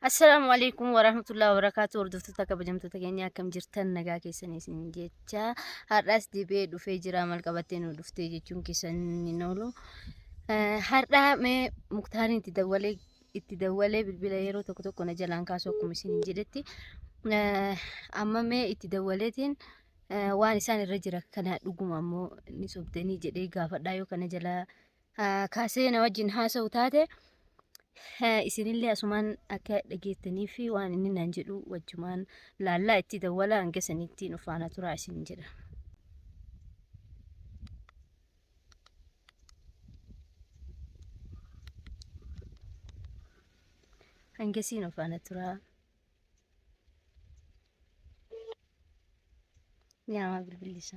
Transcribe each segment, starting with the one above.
Assalaamu alaikum warahmatullahi wabarakatuh hordoftoota kabajamtoota keenya akkam jirtan nagaa keessanii isin jecha har'aas deebi'ee dhufee jira maal qabattee nu dhuftee jechuun keessan hin oolu har'aa mee muktaariin itti dawwalee itti dawwalee bilbila yeroo tokko tokko na jalaan kaasu akkuma isin hin jedhetti amma mee itti dawwaleetiin waan isaan irra jira kana dhuguma ammoo ni sobdanii jedhee gaafadhaa yoo kana jalaa kaasee na wajjin haasa'u taate isinillee asumaan akka dhageettanii fi waan inni naan jedhu wajjumaan laallaa itti dawwala hanga sanitti nu faana turaa isin jedha. Hangasii nu faana turaa. Nyaama bilbilisa.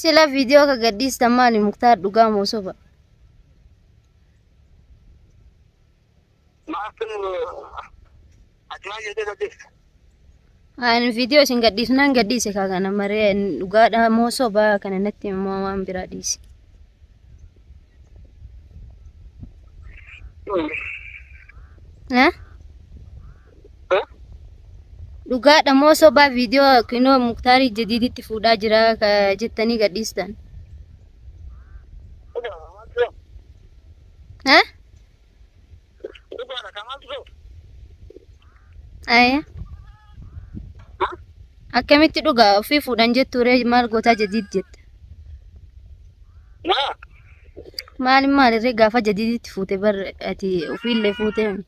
Sila viidiyoo akka gadhiistan maali muktaar dhugaa moo soba? Maaftu achumaa jettee saddeet. Ani viidiyoo isin gadhiisnaan gadhiise kaa kana maree dhugaadha moo soba kana natti immoo waan biraa dhiise. Eh? Dhugaadha moo sobaa viidiyoo kinoo muktaarii jadiiditti fuudhaa jira ka jettanii gadhiistan. Eh? Aya. Akkamitti dhugaa ofii fuudhan jettu ree maal gootaa jadiid jetta. Maali maali ree gaafa jadiiditti fuute bar ati ofiillee fuute.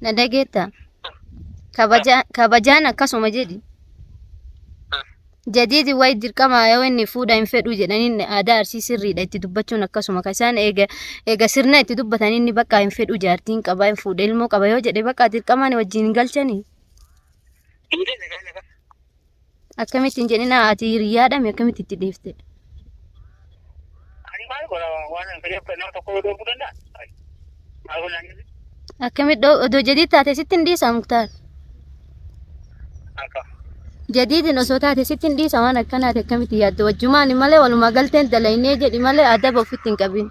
Na dhageettaa? Kabajaa- Kabajaan akkasuma jedhi. Jadiidi wayi dirqama yoo inni fuudha hin fedhu jedhaniin aadaa arsii sirriidha itti dubbachuun akkasuma kan isaan eega eega sirna itti dubbatan inni bakka hin fedhu jaartiin qaba hin fuudha ilmoo qaba yoo jedhe bakka dirqamaan wajjin hin galchanii. Dhiirri nagaa nagaa. Akkamitti hin jedhin ati hiriyaadha mi akkamitti itti dhiifte? Ani maal godha waan hin fedheef kan nama tokko yoo dhoofuu danda'a? Maal godha inni? Akkamitti odoo jadiid taate sitti hin dhiisa muktaar? Akka. Jadiidin osoo taate sitti hin dhiisa waan akkanaati akkamitti yaadda wajjumaani malee walumaa galteen dalaynee jedhi malee adaba ofitti hin qabin.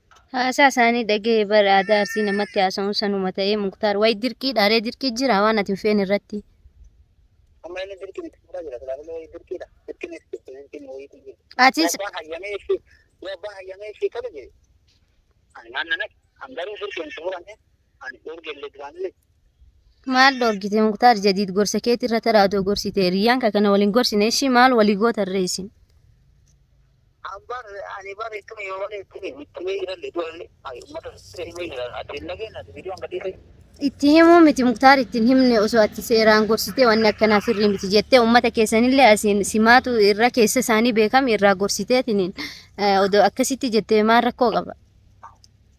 Haasaa isaanii dhaga'e bar aadaa arsii namatti haasa'uun sanuma ta'ee muktaar wayi dirqii dhaaree dirqii jira waan ati hin feene irratti. Amma inni dirqiin itti fuudhaa jira. Silaa malee dirqiidha. Dirqiin itti dirqiin wayiitu jira. Atis Abbaan hayyamee ishee yoo abbaan hayyamee ishee tole jedhe. Ani maal nan akka an garuu dirqiin itti fuudhame ani dhoorgee illee duraan illee maal dhoorgite muktaar jadiid gorsa keetii irra taraadoo gorsite hiriyyaan kee kana waliin gorsine ishii maal walii goota irra isin. Ambar ani bar ittuma yoo malee ittuma ittuma jiralle duralle ayi ummata seeruma jira ati hin dhageen ati viidiyoo hanga dhiise. Itti himuu miti muktaar ittiin himne osoo ati seeraan gorsitee wanni akkanaa sirrii miti jettee uummata keessanillee asiin simaatu irra keessa isaanii beekame irraa gorsiteetiniin odoo akkasitti jettee maal rakkoo qaba.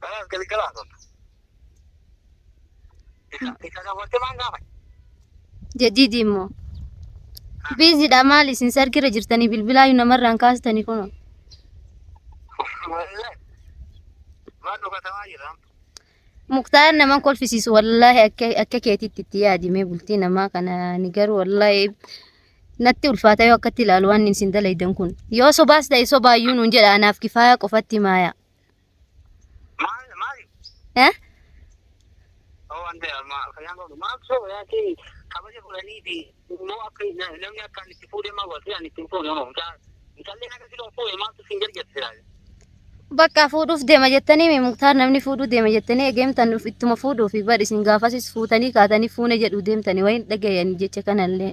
Kanas galgalaa tolta. Isa dabalatee maal gaafate? Jadidi immoo. Biizidha maal isin sargirra jirtanii bilbilaayu namarraan kaastanii kunoo. Wallahi. Maal dhugatamaa jira? Muktaar naman kolfisiisu wallaahi akka akka keetitti itti yaadimee bultii namaa kana ni garuu wallaahi natti ulfaata yoo akkatti ilaalu waan isin dalaydan kun yoo sobaas ta'e sobaayyuu nuun jedha anaaf kifaayaa qofatti maaya Eh? Bakka fuudhuuf deema jettanii mee muktaar namni fuudhuu deema jettanii egeemtan dhuf ittuma fuudhuuf bar isin gaafasis fuutanii kaatanii fuune jedhu deemtanii wayin dhagayanii jecha kanallee.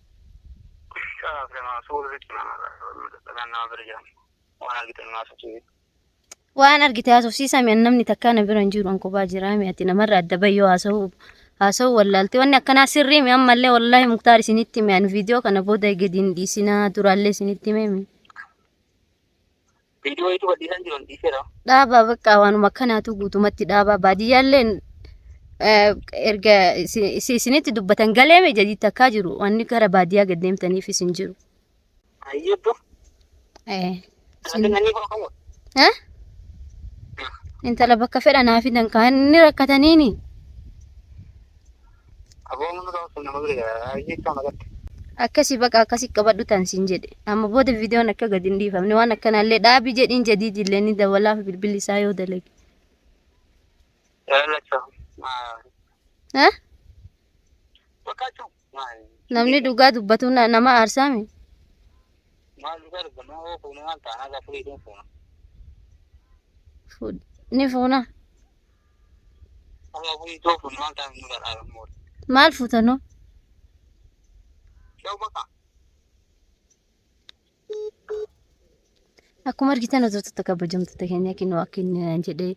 Waan argite haasofsiisaa mi'a namni takkaa na bira hin jiru an kophaa jiraa mi'a ati namarra adda bahi yoo haasa'u haasa'u wallaalte wanni akkanaa sirrii mi'a ammallee wallaahi muktaar isinitti mi'an viidiyoo kana booda gadi hin dhiisinaa duraallee isinitti mi'ame. Viidiyoo hedduu gadhiisan jiran dhiiseera. dhaabaa bakka waanuma akkanaatu guutumatti dhaabaa baadiyyaalleen eh, erga isi- isi- isinitti dubbatan galeeme jedhi takkaa jiru wanni gara baadiyyaa gad deemtaniif isin jiru. Ayyee dur. Eh, Ati isin- nannii koo qabu. eh? Intala bakka fedha naa fidan kaan inni rakkataniini. Aboo munu ta'uu sun nama bira ayyii kama gatte. Akkasi baqa akkasi qabadhu tan sin jedhe. Amma booda viidiyoon akka gad hin dhiifamne waan akkanaallee dhaabi jedhiin jadiidillee ni dawalaaf bilbilli isaa yoo dalage. Lalacha. Eh? Bakkachu. Namni dhugaa dubbatu na- nama aarsaame. Maal dhugaa dubbanna hoo fuuna maal taana gaafa fuudhee fuuna. Fuudh- Ni fuuna. Maal fuutanoo? Akkuma argitan hojjettoota kabajamtoota keenya kinoo akkin jedhee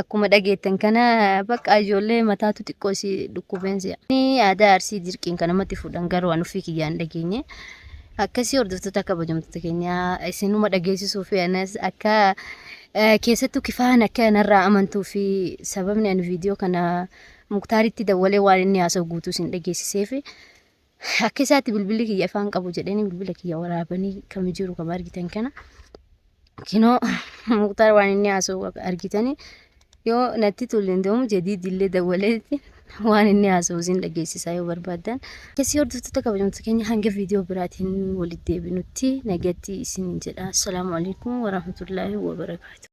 akkuma dhageettan kana bakka ijoollee mataatu xiqqoo isii dhukkubeen si'a. Inni aadaa arsii dirqiin kan namatti fuudhan garuu waan ofii kiyyaan dhageenye. Akkasii hordoftoota kabajamtoota keenya isinuma dhageessisuu fi anas akka Keessattuu kifaan akka narraa amantuu fi sababni ani viidiyoo kana muktaaritti dawwalee waan inni haasa'u guutuu sin dhageessiseef akka isaatti bilbilli kiyya ifaan qabu jedhanii bilbila kiyya waraabanii kami jiru kama argitan kana kinoo muktaar waan inni haasa'u argitanii Yoo natti tolle indoomu jadiid illee dawwaleeti waan inni haasa'u isin dhageessisaa yoo barbaaddan. Akkasii hordoftoota kabajamtoota keenya hanga viidiyoo biraatiin walitti deebinutti nagatti isin jedha. Assalaamu alaikum warahmatullaahi wabarakaatu.